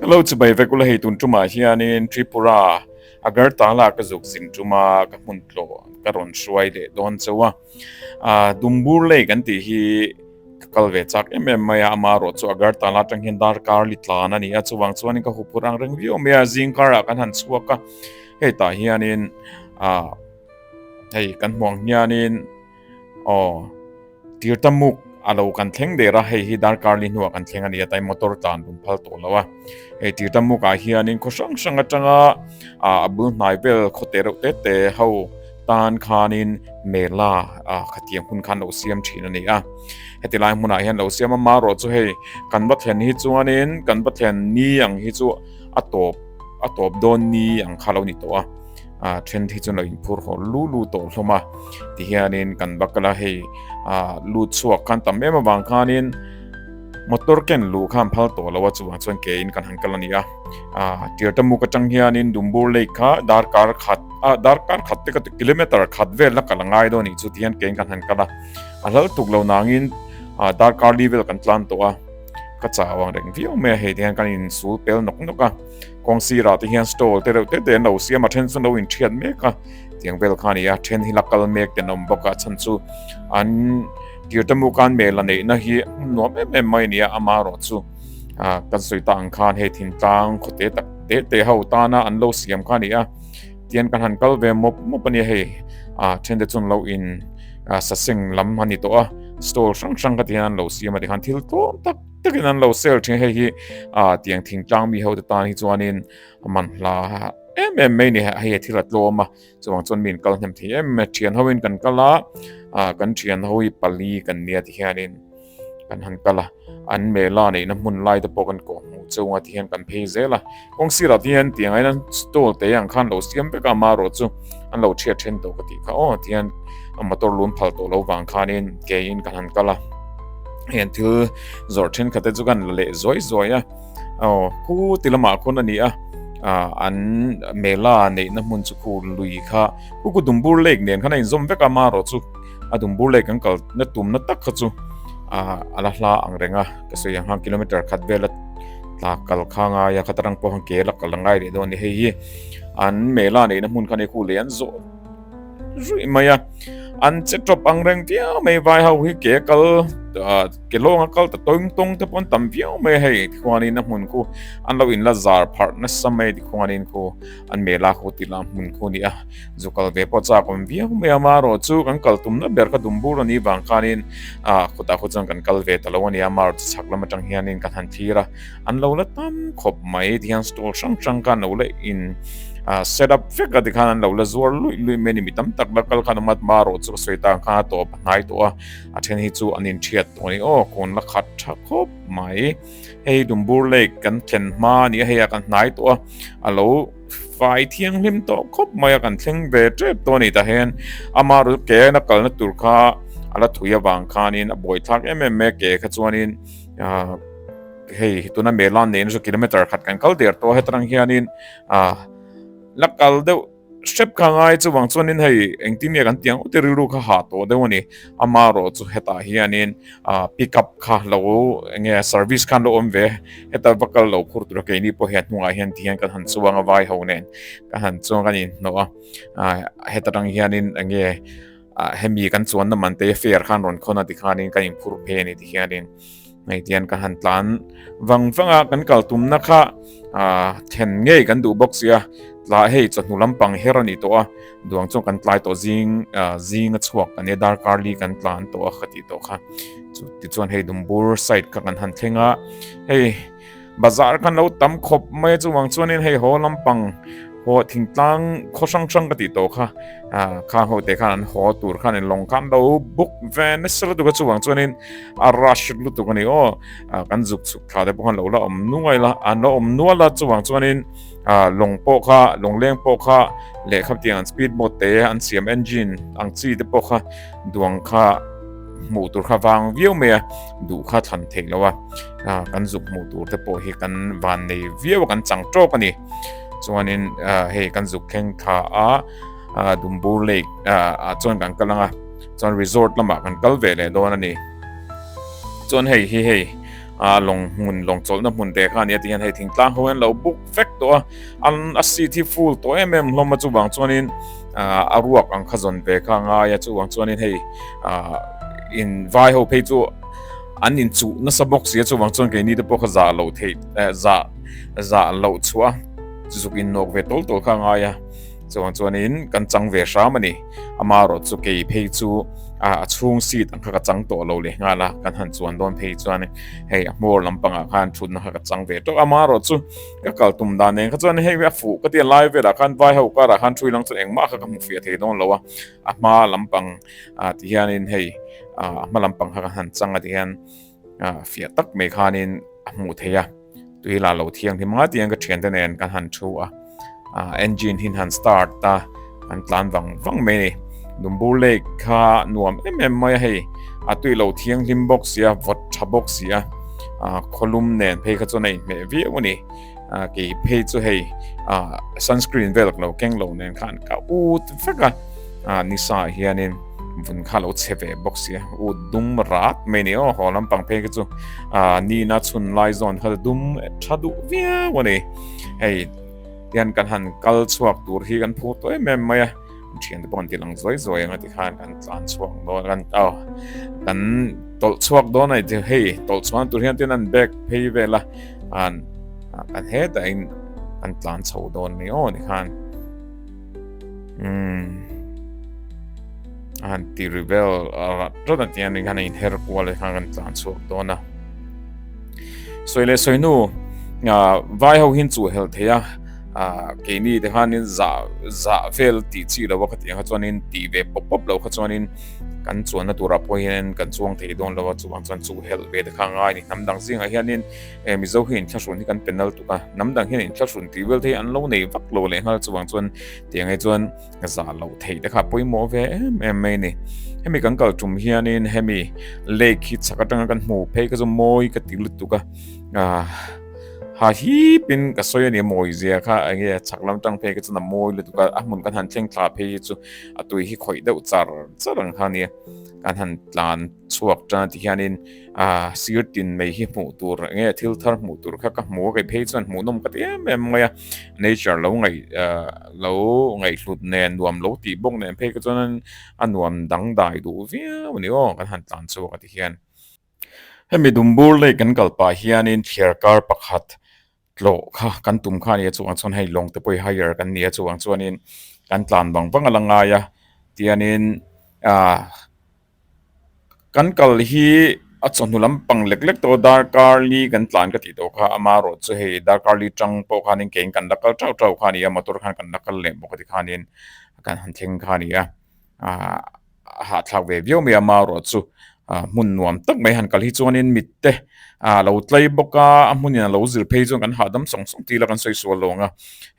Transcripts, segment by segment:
Hello chubai vek ula hei tun tuma hian in Tripura Agartala ka zuk zing tuma ka hmun tlo ka ron hruai le don cheu a a dumbur lei kan ti hi ka kal ve chak em em mai a ma ro chu Agartala tang hian dar kar li tlan ani a chuwang chuan in ka hu phur ang reng viau mai a zing kar ah kan han chhuak a hei tah hian in a hei kan hmuh ang hian in Aw, tirta muk a lo kan thleng der a, hei hi darkarli hnu ah kan thleng a ni, hetlai motor tlan rawn phal tawh lo a. Hei tirta muk ah hianin khaw hrang hrang atanga a bul hnai vel khaw teh reuh teh teh ho tan khanin mela khatiang hun khan lo siam thin a ni a. Hetilai hmun ah hian lo siam a, marawh chu hei kan va thlen hi chuanin kan va thlen ni ang hi chu a tawp a tawp dawn ni ang kha lo ni tawh a. a trend hi chu lo in phur haw lu lu tawh hlawm a ti hianin kan va kal a hei a lu chhuak khan tam em avang khanin motor ken lu khan phal tawh lo a chuvang chuan ke in kan han kal a ni a a tirta muk atang hianin dumbur lake kha dar kar khat a dar kar khat te ka kilometer khat vel la kal ngai dawn ni chu ti hian ke in kan han kal a a hlal tuk lo nangin a dar kar li vel kan tlan tawh a ka chah avang reng viau mai a hei ti hian kan in sul pel nawk nawk a Kawng sirah te hian stall te reuh tete an lo siam a, then chu an lo inthiat mek a tiang vel kha a ni a, then hi la kal mek te an awm bawk a, a chhan chu an tirtamu kan mel la neihna hi a hmun nuam em em mai a ni a, amah erawh chu kan sawi ta ang khan hei thin tlang khaw te tak tete ho tana an lo siam kha a ni a, tian kan han kal ve mawp mawp a ni a hei, then te chu an lo in saseng lam a ni tawh a, stall hrang hrang kha te hian an lo siam a ti khan thil tawm tak. takin an lo sell thin hei hi a tiang thing tlang mi ho te tan hi chuanin man hla em em mai ni hei a thil a tlawm a chuang chuan min kal hnem thei em mai thian hoin kan kala a kan thian hoi pali kan nia ti hianin kan han kala an mela neihna hmun lai te pawh kan kawh hmuh chunga ti hian kan phei zel a Kawng sirah te hian tiang aiin an stall teh ang kha an lo siam vek a, ama erawh chu an lo ṭhiat ṭhen tawh ka tih kha aw ti hian a motor lun phal tawh lo vang khanin keiin kan han kal a, heng thil zawrh ṭhenkhat te chu kha an la leh zuai zuai a, aw khu ti lamah khawn a ni a, ah an mela neihna hmun chu khu lui kha khu ku dumbur lek nen khan a inzawm vek a, ama erawh chu. a dum bur lei kan kal na tum na tak kha chu a ala hla ang reng a ka sawi ang hang kilometer khat vel a tla kal kha ngai a khatarang pawh hang ke la kal angai leh dawn a ni hei hi an mela neihna hmun khan khu leh an zawh zui mai a an che top ang reng tia mai vai ho hi ke kal ke longa kal ta toim tong te pon tam viau mai hei khwanin a hmun khu an lo in la zar pharh nasa mai ti khwanin khu an mela khu ti lam hmun khu ni a Zu kal ve pawh chak awm viau mai a, Mar aw chu kan kal tumna ber kha dum bur a nih vang khanin ah khutah khut chuan kan kal ve ta lo a nia, Mar chi chhak lam atang hianin ka han thlir a, an lo la tam khawp mai tihian stall hrang hrang kha an lo la in ah set up vek a tikhan an lo la zuar luih luih mai a ni, mi tam tak la kal khan awm a, Mar aw chu ka sawi tan kha a tawp a hnai tawh a, a then hi chu an in thiat tawh a ni aw, kun la khat tha khawp mai, hei dum bur lake kan thlen hma a nih a, hei a kan hnai tawh a, a lo. Fai thianghlim tawh khawp maia kan thleng ve tep tawh a nih tahin amaru chu ke na kalna tur kha a la thui avang khanin a bawithlak em em mai a ke kha chuanin hei tuna melan neihna chu kilometre khat kan kal der tawh a hetarang hianin la kal deuh hrep kha ngai chuvang chuanin hei engtin nge kan tiang ute rilru kha hah tawh deuh a ni ama rawh chu hetah hianin pick up kha lo enge service khan lo awm ve heta va kal lo khur tur keini pawh hian hnungah hian tihian kan han chuang a vai ho nen kan han chuang kan in hnawh a heta tang hianin enge hemi kan chuan na man te fair khan rawn khona ti khanin kan in phur phe ni ti hianin Hei tian ka han tlan vang vanga kan kaltumna kha then ngei kan duh bawk sia tla hei chawhnu lampang her a nih tawh a duang chuan kan tlai tawh zing zing a chhuak kan e darkarli kan tlan tawh a ka tih tawh kha chu tichuan hei dumbur side kha kan han thleng a hei bazar khan lo tam khawp mai a chuvang chuanin hei haw lampang haw thingtlang khaw hrang hrang ka tih tawh kha kha ho te khan an haw tur khan in long kham do buk ve nasa lutuk a chuvang chuanin a rush lutuk a ni aw kan zuk chuk tha te pawh khan lo la awm nuai la an lo awm nual la chuvang chuanin long pawh kha long leng pawh kha lehkha tiang an speed boat te an siam engine ang chi te pawh kha duang kha hmuh tur kha vang viau mai a duh kha thlan theih lo a kan zuk hmuh tur te pawh hi kan van nei viau kan chang tawk a ni chuanin hei kan zuk thleng tha a Dumbur Lake ah chuan kan kal anga chuan resort lamah kan kal ve leh dawn a ni chuan hei hi hei a lawng hmun lawng chawlhna hmun te khan nia tihian hei thingtlang ho hian lo book fek tawh a an a seat hi full tawh em em hlawm a chuvang chuanin ah a ruak ang kha zawn ve kha a ngai a chuvang chuanin hei ah in vai ho phei chu an in chu nasa bawk si a chuvang chuan keini te pawh kha zah lo thei eh zah zah lo chhuah a zuk in nawk ve tawl tawl kha a ngai a Chuvang chuanin kan chang ve hram a ni. Ama erawh chu kei phei chu a chhung seat ang kha ka chang tawh lo leh nghal a, kan han chuan dawn phei chuan hei a hmawr lampangah khan thutna kha ka chang ve tawh. Ama erawh chu ka kal tum dan nen kha chuan hei a fuh ka ti a, lai velah khan vai ho karah khan thui lam chu engmah kha ka hmu fiah thei dawn lo a, a hma lampang ah ti hianin hei a hma lampang kha kan han chang a ti hian, a fiah tak mai khanin a hmuh theih a tui la lo thiang hi manga tiang ka thian te nen kan han thu a engine hin han start ta an tlan vang vang mai ni dumbur lek kha nuam em em mai hei a tui lo thiang hlim box sia vot tha box sia kholum nen phei kha chon nei me viau ni a kei phei chu hei a sunscreen vel lo keng lo nen khan ka ut vek a a nisa hianin vun kha lo che ve bawk sia ut dum rat mai ni o ho lampang phei chu a ni na chun lai zon kha dum tha du viau ani hei hian kan han kal chhuak tur hi kan phu toy mem mai a thian te pawh kan tih lang zuai zuai ang a ti khan kan tlan chhuak dawn kan ta kan tawlh chhuak dawn ai tir hei tawlh chhuak tur hian tin an bag phei vel a an kan he ta in an tlan chho dawn ni aw ni khan um an ti rebel rat rat an ti an khan in her kual khan kan tlan chhuak dawn a soile soinu vai ho hin chu hel theia a ke ni te han in za za vel ti chi lo ka ti ha chuan in ti ve pop pop lo kha chuan in kan chuan na tur a pawh hian kan chuang thei don lo chu bang chuan chu hel ve te kha ngai ni nam dang zing a hian in e mizo hi in thlasun hi kan penal tu ka nam dang hian in thlasun ti vel thei an lo nei vak lo le ngal chu bang chuan ti ngai chuan za lo thei te kha poi mo ve em em mai ni hemi kan kal tum hian in hemi lake hi chaka tang kan mu phei ka zo moi ka ti lut tu ka a Ha hip in ka sawi a ni mawi zia kha eng nge chak lam tang phei ka chhan a mawi lutuk a a hmun kan han thleng thla phei hi chu a tui hi khawih deuh char char ang kha nia kan han tlan chhuak tan ti hian in a sir tin mai hi hmuh tur eng nge thil thar hmuh tur kha ka hmu a kai phei chuan hmuh nawm khat em em mai a nature lo ngai lo ngai hlut nen nuam lo tih bawk nen phei ka chuan a nuam dangdai duh viau a ni aw kan han tlan chhuak a ti hian Hemi dumbur lei kan kal pah hianin thliar kar pakhat tlawh kha kan tum kha a nia chungah chuan hei lawngte pawh i hire kan ni a chungah chuanin kan tlan vang vang a la ngai a tianin ah kan kal hi a chawhnu lampang lek lek tawh darkarli kan tlan ka tih tawh kha a mah erawh chu hei darkarli tang pawh khanin kein kan la kal teuh teuh kha a ni a motor khan kan la kal leh bawk a tikhanin kan han thleng kha a ni a. ah hahthlak ve viau mai a ma ruah chu ah hmun nuam tak mai han kal hi chuanin mit te ah lo tlai bawk a a hmun in alo zir phei chuan kan hahdam sawng sawng tila kan sawi sual lo ang a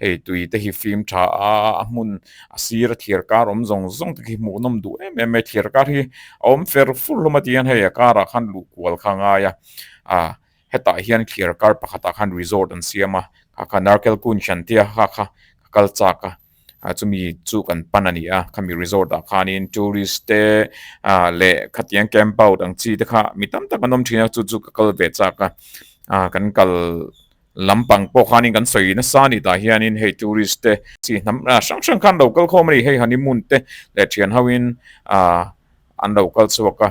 hei tui te hi fim tha a a hmun a sira thlir kar awm zawng zawng te khi hmuh nawm duh em em mai thlir kar hi a awm fer fur hlawm atiang hei a karah khan luh kual kha a ngai a ah. Hetah hian khir kar pakhatah khan resort an siam a, kha kha Narkel Kun Shantia kha kha ka kal chak a, chumi chu kan pan a ni a, khami resort ah khanin tourist te leh khatiang camp out ang chi te kha mi tam tak an awm thin a, chu chu ka kal ve chak a, kan kal lampang pawh khanin kan sawi nasa a ni tah hianin hei tourist te chi hnam hrang hrang khan an lo kal khawm a ni, hei honeymoon te leh thianho in an lo kal chhuak a,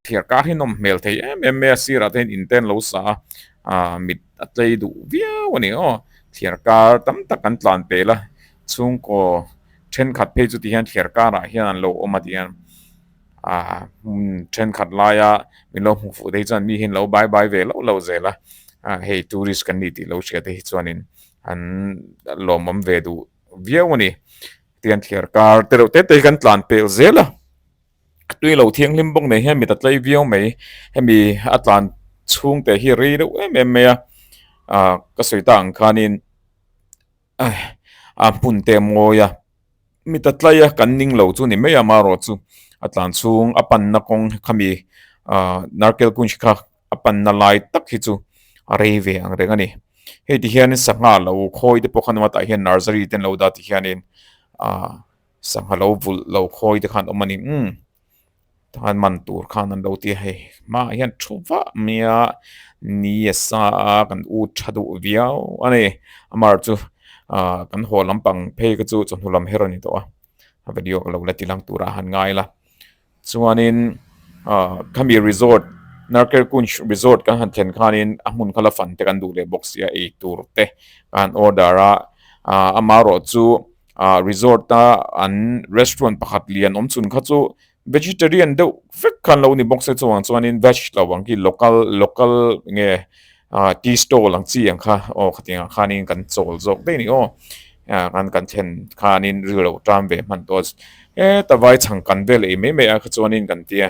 Thiar kar hi nawm hmel thei em em mai a, sirah te hian in te an lo sa a, aah mit a tlei duh viau a ni aw, thiar kar tam tak kan tlan pel a, chhungkaw thenkhat phei chu ti hian thiar karah hian an lo awm a ti hian aah hun thenkhat laia min lo hmu fuh te hi chuan mi hi an lo bai bai ve lo lo zel a, aah hei tourist kan ni tih lo hria te hi chuanin an lawmawm ve duh viau a ni, tihian thiar kar tereuh te te hi kan tlan pel zel a. a tui lo thianghlim bawk nei hian mi ta tlai viau mai hemi a tlan chhung te hi rei reuh em em mai a ah ka sawi ta ang khanin ai a hmun te mawi a mi ta tlai a kan ning lo chu ni mai a amarawh chu a tlan chhung a panna kawng khami ah narkal kunj kha a panna lai tak hi chu a rei ve ang reng a ni heti hian sangha lo khawi te pawh kha hnung lamah tah hian narsary te an lo dah tih hianin ah-- Sangha lo vulh lo khawi te khan awm a ni umm. Takhan man tur khan an lo ti a hei hmaah hian thu vah maia ni a sa a kan ut tha duh viau a ni. Amar chu ahh kan haw lampang phei ka chu chawhnu lam her a ni tawh a. A video ka lo la ti lang tura han ngai la. Chuanin khami resort Narker Kunj resort kan han thlen khanin a hmun khala fan te kan duh leh bawk si a, eitur te ka han order a, amah rawh chu resort a an restaurant pakhat lian awm chhun kha chu vegetarian deuh vek kha an lo ni bawk se chungah chuanin veg lo ang khi local local nge. Ahh tea stall ang chi ang kha aw kha tiang ah khan in kan chawl zawk daih ni aw ahh kan thlen khan in ri lo tan ve hman tawh a ehh ta vai chhang kan vel ei mai mai ah kha chuan in kan ti a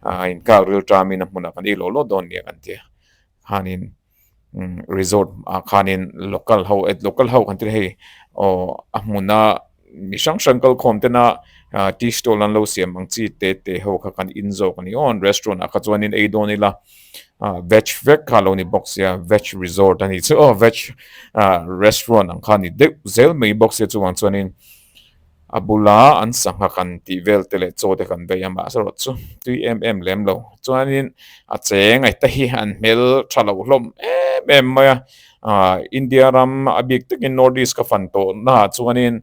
ahh in kak ril tan in a hmun ah kan ei loh loh dawn nia kan ti a khan in umm resort ah khan in local ho local ho kan tih ang aw a hmun a. Mi hrang hrang kal khawm ten a tea stall an lo siam ang chi te te ho kha kan in zawk a ni aw an restaurant ah kha chuanin ei dawn ila veg vek kha lo ni bawk sia veg resort a ni chu aw veg restaurant ang kha ni deuh zel mai bawk sia chuvang chuanin a bula an sangha kan tih vel te leh chaw te kan vei a mahse rawh chu tui em em lem lo chuanin a cheng ai ta hi an hmel tha lo hlawm em em mai a. India ram a bik takin North East ka fan tawhnaah chuanin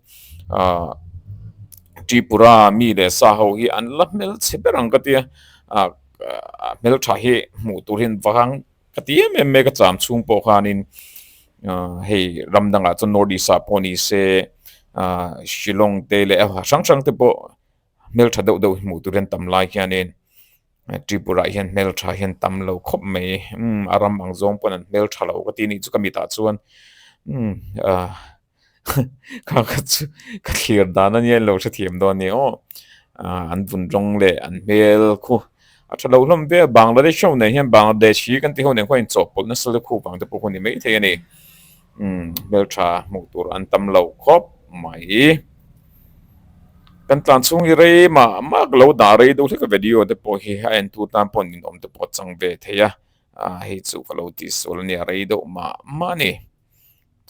Tripura mi leh sa ho hi an la hmel chhe ber ang ka ti a. A hmel tha hi hmuh tur hi an vang ka ti em em mai ka cham chhung pawh khanin hei ram dangah chuan North East ah pawh nise Shillong te leh a hrang hrang te pawh hmel tha deuh deuh hi hmuh tur hi an tam lai hianin. Tripura hian hmeltha hian tam lo khawp mai umm a ram ang zawng pawn an hmeltha lo ka tih ni chu ka mitah chuan umm ah ka kha chu ka thlir dan ania in lo hre thiam dawn ni awh ah an vun rawng leh an hmel khu a tha lo hlawm ve a Bangladesh ho nen hian Bangladeshi kan tih ho nen khuan in chawhpawlh nasa lukhum vang te pawh hun ni maithei a ni. Hmeltha hmuh tur an tam lo khawp mai. Kan tlan chhung hi rei mah mak lo dah rei deuh hlek a video te pawh hi a entûr tan pawh an inawm te pawh a chang ve thei a, hei chu ka lo tih sual a nia rei deuh mah mah a ni.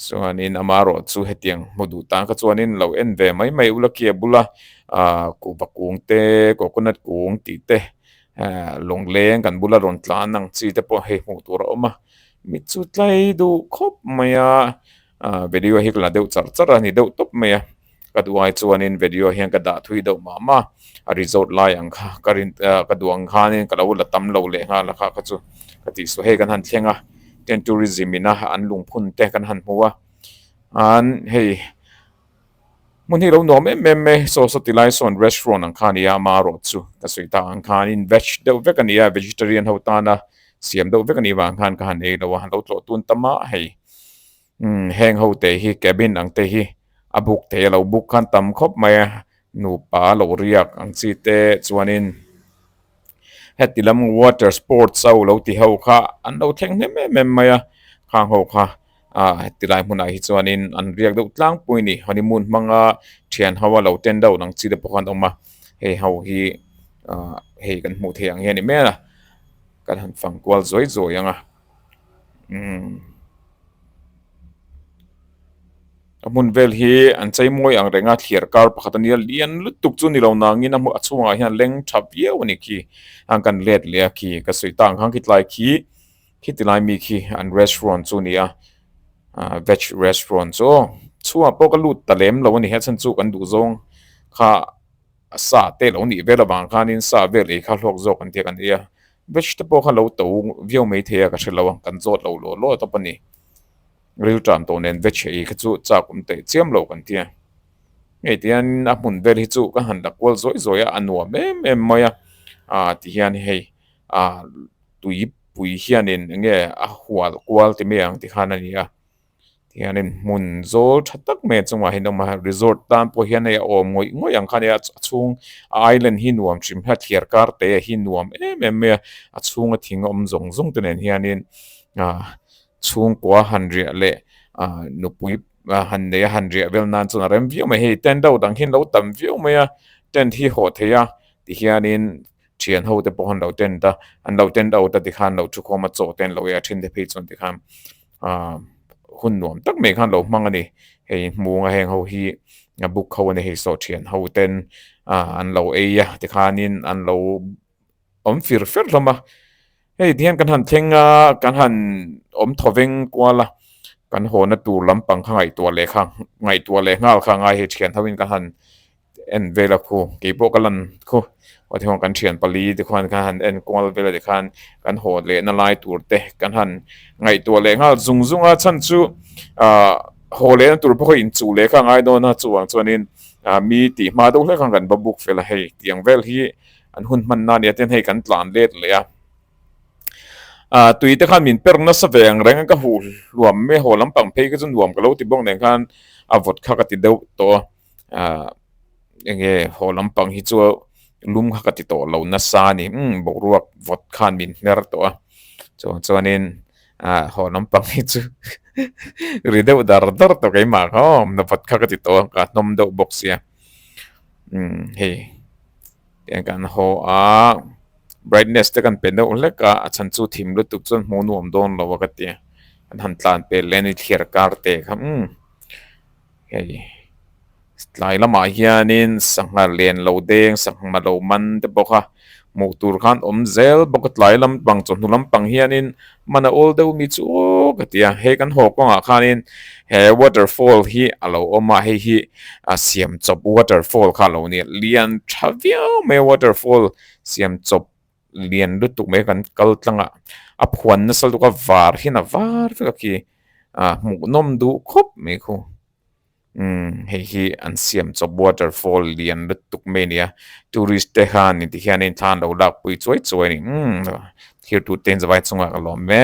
Chuanin ama erawh chu hetiang hmu duh tan kha chuan in lo en ve mai mai ulaki a bula kuhva kung te coconut kung tih te lawng leng kan bula rawn tlan ang chi te pawh hei hmuh tur a awm a. mi chu tlai deuh khawp mai a ah video hi ka la deuh char char a ni deuh tawp mai a ka duai chuanin video hian ka dah thui deuh mah mah a result lai ang kha ka rin ah ka duang khanin ka lo la tam lo leh nghal a kha kha chu ka tih suah hei kan han thleng a tent tourism ina an lungphun te kan han hmu a an hei-- Hmun hi lo nuam em em e, saw saw ti lai sawn restaurant ang kha a ni a, ama erawh chu ka sawi ta ang khan in veg deuh vek a ni a, vegetarian ho tana siam deuh vek a nih vang khan ka han ei lo a, lo tlawh tun ta mah hei umm heng ho te hi cabin ang te hi a book thei a, lo book khan tam khawp mai a, nupa a lo riak ang chi te chuanin heti lam water sports a, lo ti ho kha an lo thleng hnem em em mai a, khang ho kha Ahh heti lai hmunah hi chuanin an riak deuh tlangpui a ni, honeymoon hmanga thian ho a lo ten deuh ang chi te pawh khan a awm a, hei ho hi ahh hei kan hmuh theih ang hi a ni hmel a, kan han fang kual zuai zuai ang a umm a hmun vel hi an chei mawi ang reng a, thliar kar pakhat a nia lian lutuk chu ni lo nangin a chhungah hian leng tha viau a ni khi, a ang kan let leh a khi ka sawi ta ang khan khi tlai khi. Heti lai mi khi an restaurant chu nia ahh veg restaurant chu aw chhuah pawh ka lut ta lem lo a ni a chhan chu kan duh zawng kha sa te lo nih vel avang khanin sa vel ei kha hlawk zawk ang tia kan ei a veg te pawh kha lo to viau mai thei a ka hre lo a kan zawt lo law law tawp a ni rilṭan tawh nen veg ei kha chu chak awm teh chiam lo kan ti a ngei tihian a hmun vel hi chu ka han la kual zawih zawih a a nuam em em mai a ahh ti hian hei ahh. Tuipui hianin enge a hual kual ti mai ang tikhan a nia tihianin hmun zawl tha tak mai chungah hian awm a resort tan pawh hian hei a awm ngawih ngawih ang kha nia a chhung a island hi nuam thin hla thiar kar te hi nuam em em mai a a chhunga thing awm zawng zawng te nen hianin ahh chhungkua han riah leh ahh nupui han nei a han riah vel nan chuan a rem viau mai a hei tent ho dang hian lo tam viau mai a tent hi haw theih a tihianin. Thian ho te pawh an lo tent a, an lo tent out a tikhan lo thu khawm a chaw te an lo ei a then te phei chuan tikhan aah hun nuam tak mai khan lo hmang a ni. Hei hmung a heng ho hi buk ho a ni hei saw thian ho ten aah an lo ei a tikhanin an lo awm fir fer hlawm a. Hei ti hian kan han thleng a, kan han awm thaw veng kual a, kan haw na tur lampang kha ngaihtuah leh kha, ngaihtuah leh nghal kha ngai hei thian ho in kan han en vel a khu, kei pawh ka lan khu, heti ho kan thian pali te khuan kha han en kual vel a ti khan kan haw leh na lai tur te kan han ngaihtuah leh nghal zung zung a, chhan chu ah haw leh na tur pawh kha inchuh leh kha ngai dawn a, chuvang chuan in ah mi tih hma deuh hlek khan kan va buk fel a, hei tiang vel hi an hun hman na nia ten hei kan tlan let leh a ah tui te khan min per nasa ve ang reng ka huh hluam mai a haw lam pang phei ka chu nuam ka lo ti bawk nen khan a vawt kha ka ti deuh tawh a ah eng nge haw lam pang hi chu lum kha ka ti tawh lo nasa a ni umm boruak vawt khan min hner tawh a chuang chuan in ah haw lam pang hi chu ri deuh dar dar tawh kaimah kha awm na vawt kha ka ti tawh a ka hnawm deuh bawk sia. umm hei eng kan haw a brightness te kan pe deuh hlek a a chhan chu thim lutuk chuan hmuh nuam dawn lo a ka ti a an han tlan pel leh a ni thliar kar te kha umm hei tlai lamah hianin sangha lian lo deng sangha malo man te pawh kha-- Hmuh tur khan awm zel bawk a tlai lampang chawhnu lampang hianin man a awl deuh mi chu ka ti a, hei kan haw kawngah khanin he waterfall hi a lo awm a, hei hi a siam chawp waterfall kha a lo ni a, lian tha viau mai a waterfall siam chawp lian lutuk mai kan kal tlang a, a phuan nasa luka var hian a var vek a khi, a hmuhnawm duh khawp mai khu. Umm hei hi an siam chawp waterfall lian lutuk mai a ni a tourist te hian ni tih hian in thla an lo lak pui chuai chuai a ni umm thlir tute zawai chungah ka lawm e.